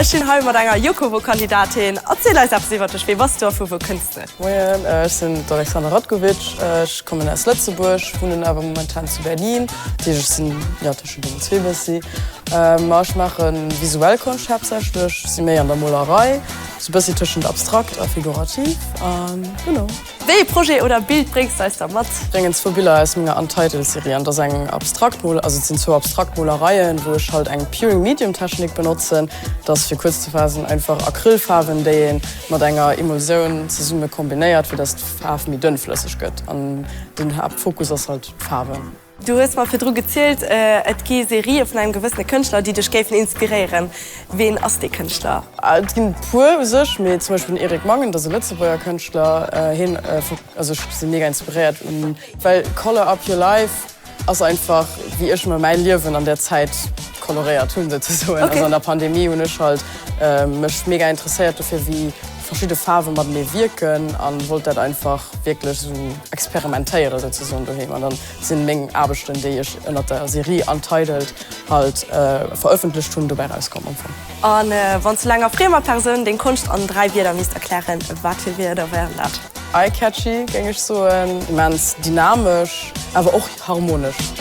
Ech stinn hei mat enger Jokovo-Kandidatin. Erziel eis eppes iwwert dech, wee bass du a vu wou kënns de? Moien, ech sinn d'Alexandra Ratkovic, ech kommen aus Lëtzebuerg, wunnen awer momentan zu Berlin. Dat heescht, ech sinn, jo, tëschent deenen zwee bëssi. Ma ech maache visuell Konscht haaptsächlech, si méi an der Molerei, sou e bëssi tëschent abstrakt a figurativ, a genau. Wéi ee Projet oder Bild bréngs d'eis da mat? Bréngen zwou Biller aus menger Untitled Serie an. Dat ass eng abstrakt Mol, also et sinn zwou abstrakt Molereien, wou ech halt eng Pure Medium Technik benotzen. Dat ass, fir kuerz ze faassen, einfach Acrylfaarwen, déi ee mat enger Emulsioun zesumme kombinéiert, fir dass d'Faarf méi dënnflësseg gëtt. An den Haaptfokus ass halt d'Faarwen. Du hues mer virdru gezielt, et gi Serië vun engem gewëssene Kënschtler, déi dech géifen inspiréieren. Ween ass dee Kënschtler? Et ginn e puer u sech, mee zum Beispill den Eric Mangen, dat ass e Lëtzebuerger Kënschtler. Hien, also ech si mega inspiréiert, well Colour Up Your Life ass einfach, wéi ech mer mäi Liewen an där Zäit koloréiert hunn, souzesoen. Also an der Pandemie hunn ech halt mech mega interesséiert dofir, wéi. verschidde Faarwen matenee wierken an wollt dat einfach wierklech esou experimentéieren souzesoen doheem. An dann sinn meng Aarbechten déi ech ënnert der Serie Untitled halt verëffentlecht hunn dobäi rauskomm am Fong. An wann s du enger friemer Persoun deng Konscht an 3 Wierder misst erklären, wat fir Wierder wären dat? Eye-catchy géing ech soen, immens dynamesch awer och harmonesch.